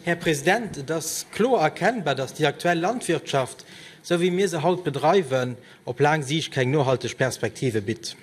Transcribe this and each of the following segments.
Här President, et ass kloer erkennbar, dass déi aktuell Landwirtschaft, esou wéi mir se haut bedreiwen, op laang Siicht keng nohalteg Perspektive bitt.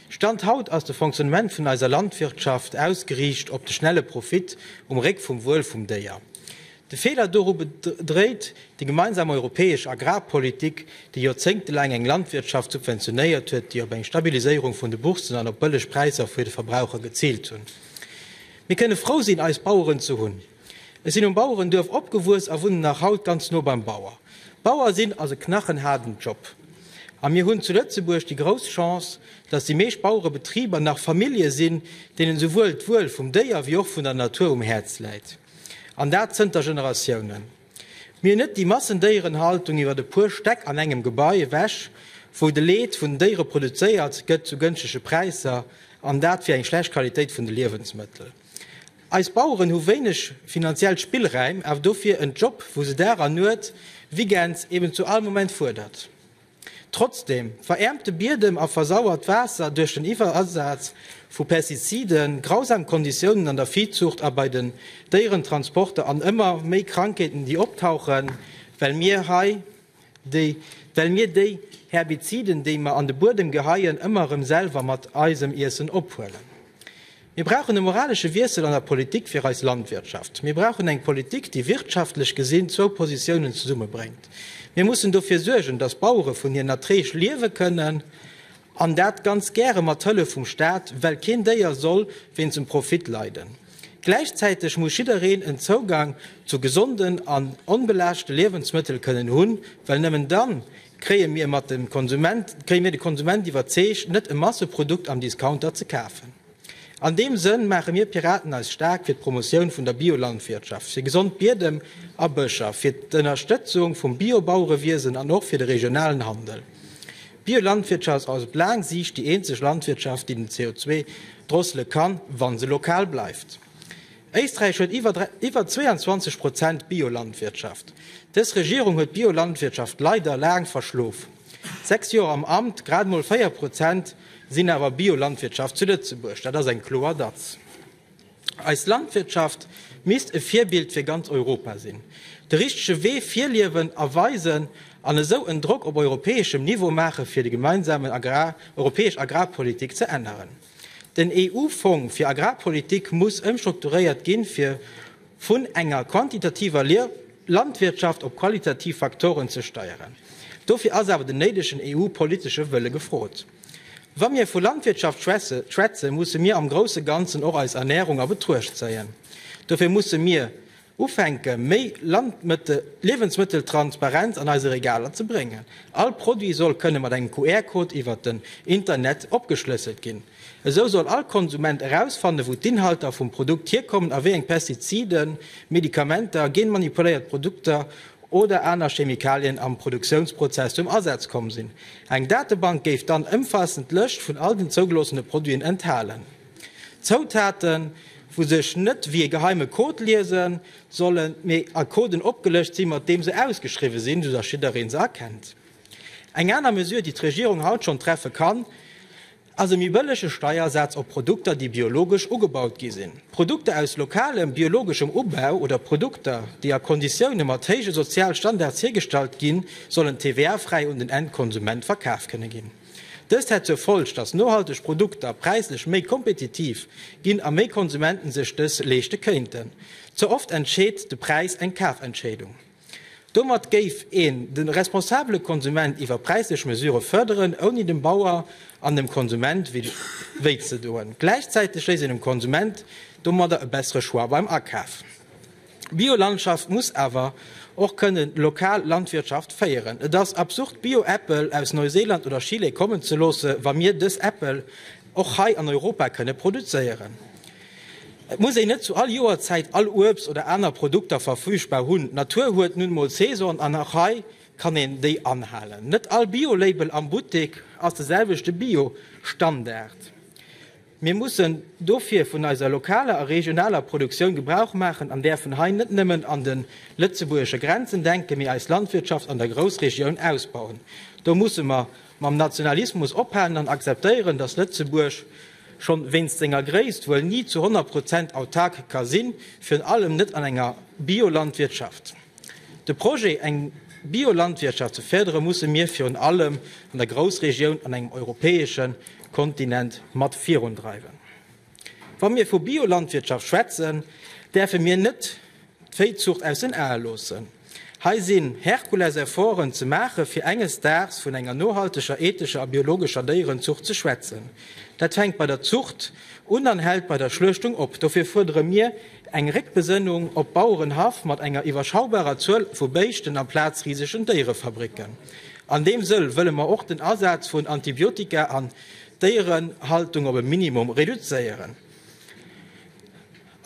Stand haut ass de Fonctionnement vun eiser Landwirtschaft ausgeriicht op de schnelle Profit um Réck vum Wuel vum Déier. De Feeler doru bedréit déi gemeinsam europäesch Agrarpolitik, déi joerzéngtelaang eng Landwirtschaft subventionéiert huet, déi op eng Stabiliséierung vun de Boursen an op bëlleg Präisser fir de Verbraucher geziilt hunn. Mir kënne frou sinn, eis Baueren ze hunn. Ech sinn um Bauerenduerf opgewuess a wunnen nach haut ganz no beim Bauer. Bauer sinn ass e knachenhaarden Job. A mir hunn zu Lëtzebuerg déi grouss Chance, datt déi meescht Bauerebetriber nach Famillje sinn, deenen esouwuel d'Wuel vum Déier wéi och vun der Natur um Häerz läit. An dat zënter Generatiounen. Mir net déi Massendéierenhaltung iwwert e puer Stäck an engem Gebai ewech, wou de Leed vun den Déiere produzéiert gëtt zu gënschtege Präisser, an dat fir eng schlecht Qualitéit vun de Liewensmëttel. Eis Baueren hu wéineg finanziell Spillräim, awer dofir en Job, wou se Dag an Nuet, Weekends, eben zu all Moment fuerdert. Trotzdem, veräermte Biedem a versauert Waasser duerch den Iwwerasaz vu Pestiziden, grausam Konditiounen an der Viehzucht a bei den Déierentransporter an ëmmer méi Krankheeten, déi optauchen, well mir hei déi, well mir déi Herbiziden, déi mer an de Buedem geheien, ëmmer erëm selwer mat eisem Iessen ophuelen. Mir brauchen e moralesche Wiessel an der Politik fir eis Landwirtschaft. Mir brauchen eng Politik, déi wirtschaftlech gesinn zwou Positiounen zesummebréngt. Mir mussen dofir suergen, datt d'Bauere vun hiren Erträg liewe kënnen, an dat ganz gäre mat Hëllef vum Staat, well keen Déier soll wéinst dem Profit leiden. Gläichzäiteg muss jiddereen en Zougang zu gesonden an onbelaaschte Liewensmëttel kënnen hunn, well nëmmen dann Kréie mir de Konsument iwwerzeegt, net e Masseprodukt am Discounter ze kafen? An deem Sënn maache mir Piraten eis staark fir d'Promotioun vun der Biolandwirtschaft, fir gesond Biedem a Bëscher, fir d'Ënnerstëtzung vum Biobauerewiesen an och fir de regionalen Handel. D'Biolandwirtschaft ass op laang Siicht déi eenzeg Landwirtschaft, déi den CO2 drossele kann, wa se lokal bleift. Éisträich huet iwwer 22 Prozent Biolandwirtschaft. Dës Regierung huet d'Biolandwirtschaft leider laang verschlof. Sechs Joer am Amt, grad mol 4 Prozent sinn awer Biolandwirtschaft zu Lëtzebuerg. Dat ass eng kloer Datz. Eis Landwirtschaft misst e Virbild fir ganz Europa sinn, de richtege Wee virliewen a weisen an esou en Drock op europäeschem Niveau maache fir déi gemeinsam europäesch Agrarpolitik ze änneren. Den EU-Fong fir Agrarpolitik muss ëmstrukturéiert ginn, fir vun enger quantitativer Landwirtschaft op qualitativ Faktoren ze steieren. Dofir ass awer den néidegen EU-politesche Wëlle gefrot. Wa mir vu Landwirtschaft schwätze musse mir am grousse Ganzen och eis Ernärung a Betruecht zéien. Dofir musse mir Ufänke méi Liewensmëtteltransparenz an eise Regaler ze bréngen. All Produit soll kënne mat engem QR-Code iwwert den Internet opgeschlësselt ginn. Esou soll all Konsument erausfannen, wou d'Inhalter vum Produkt hierkommen a wéi eng Pestiziden, Medikamenter, genmanipuléiert Produkter oder aner Chemikalien am Produktiounsprozess zum Asaz komm sinn. Eng Datebank géif dann ëmfaassend Lëscht vun all den zougeloossene Produiten enthalen. Zoutaten, wou sech net wéi e geheime Code liesen sollen, mee a Coden opgelëscht sinn, mat deem se ausgeschriwwen sinn, sou dass jiddereen se erkennt. Eng aner Mesure, déi d'Regierung haut schonn treffe kann, ass e méi bëllege Steiersaz op Produkter, déi biologesch ugebaut gi sinn. Produkter aus lokalem, biologeschem Ubau oder Produkter, déi a Konditioune mat héije Sozialstandards hiergestallt ginn, sollen TVA-fräi un den Endkonsument verkaf kënne ginn. Dëst hätt zur Folg, datt nohalteg Produkter präislech méi kompetitiv ginn a méi Konsumenten sech dës leeschte kéinten. Ze oft entscheet de Präis eng Kafentscheedung. Domat géif een de responsabele Konsument iwwer präislech Mesure fërderen, ouni dem Bauer an dem Konsument wéi ze doen. Gläichzäiteg léisst een dem Konsument domadder e bessere Choix beim Akaf. D'Biolandschaft muss awer och kënnen lokal Landwirtschaft féieren. Et ass absurd Bio-Äppel aus Neuseeland oder Chile kommen ze loosse wa mir dës Äppel och hei an Europa kënne produzéieren. Et muss een net zu all Joerzäit all Uebst oder aner Produkter verfügbar hunn. D'Natur huet nun mol Saison an och hei kann een déi anhalen. Net all Bio-Label am Buttek ass de selwechte Bio-Standard. Mir mussen dofir vun eiser lokaler a regionaler Produktioun Gebrauch maachen an däerfen hei net nëmmen an de lëtzebuergesche Grenzen denken, mee eis Landwirtschaft an der Groussregioun ausbauen. Do musse mer mam Nationalismus ophalen an akzeptéieren, dass Lëtzebuerg schonn wéinst senger Gréisst wuel ni zu 100 Prozent autark ka sinn, virun allem net an enger Biolandwirtschaft. De Projet, eng Biolandwirtschaft ze férdere musse mir virun allem an der Groussregioun an engem europäesche Kontinent mat virundreiwen. Wa mir vu Biolandwirtschaft schwätzen, däerfe mir net d'Véizuucht aus den Ae loossen. Hei sinn Herkulesefforten ze maache fir enges Daags vun enger nohalteger, ethescher a biologescher Déierenzuucht ze schwätzen. Dat fänkt bei der Zuucht un an hält bei der Schluechtung op. Dofir fuerdere mir, Eng Réckbesënnung op Bauerenhaff mat enger iwwerschaubarer Zuel vu Béischten amplaz risegen Déierefabricken. An deem Sëll wëlle mer och den Asaz vun Antibiotika an d'Déierenhaltung op e Minimum reduzéieren.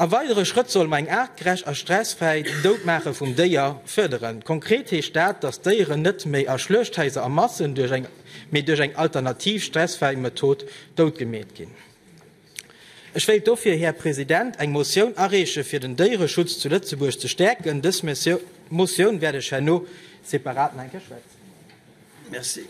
A weidere Schrëtt solle mer eng aartgerecht a stressfräi Doutmaache vum Déier fërderen. Konkret heescht dat, dass d'Déieren net méi a Schluechthaiser a Massen, mee duerch eng alternativ stressfräi Method doutgemeet ginn. Ech wéilt dofir, Här President, eng Motioun areeche fir den Déiereschutz zu Lëtzebuerg ze stäerken. Dës Motioun wäert ech herno separat nach eng Kéier schwätzen.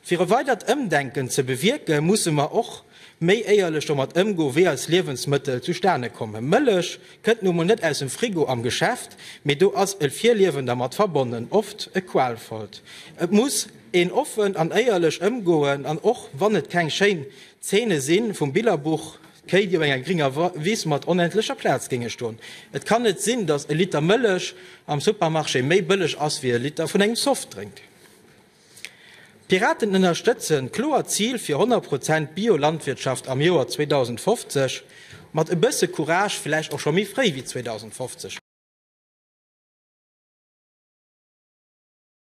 Fir e weidert Ëmdenken ze bewierken, musse mer och méi éierlech domat ëmgoen, wéi eis Liewensmëttel zustane kommen. Mëllech kënnt nu emol net aus dem Frigo am Geschäft, mee do ass e Virliewen dermat verbonnen, oft e qualvollt. Et muss. Een offen an éierlech Ëmgoen an och wann et keng schéin Zeene si vum Billerbuch, d'Kéi déi op enger gringer Wiss mat onendlecher Plaz géinge stoen. Et kann net sinn, datt e Liter Mëllech am Supermarché méi bëlleg ass wéi e Liter vun engem Softdrink. D'Piraten ënnerstëtzen d'kloert Zil fir 100 Prozent Bio-Landwirtschaft am Joer 2050, mat e bësse Courage vläicht och scho méi fréi wéi 2050.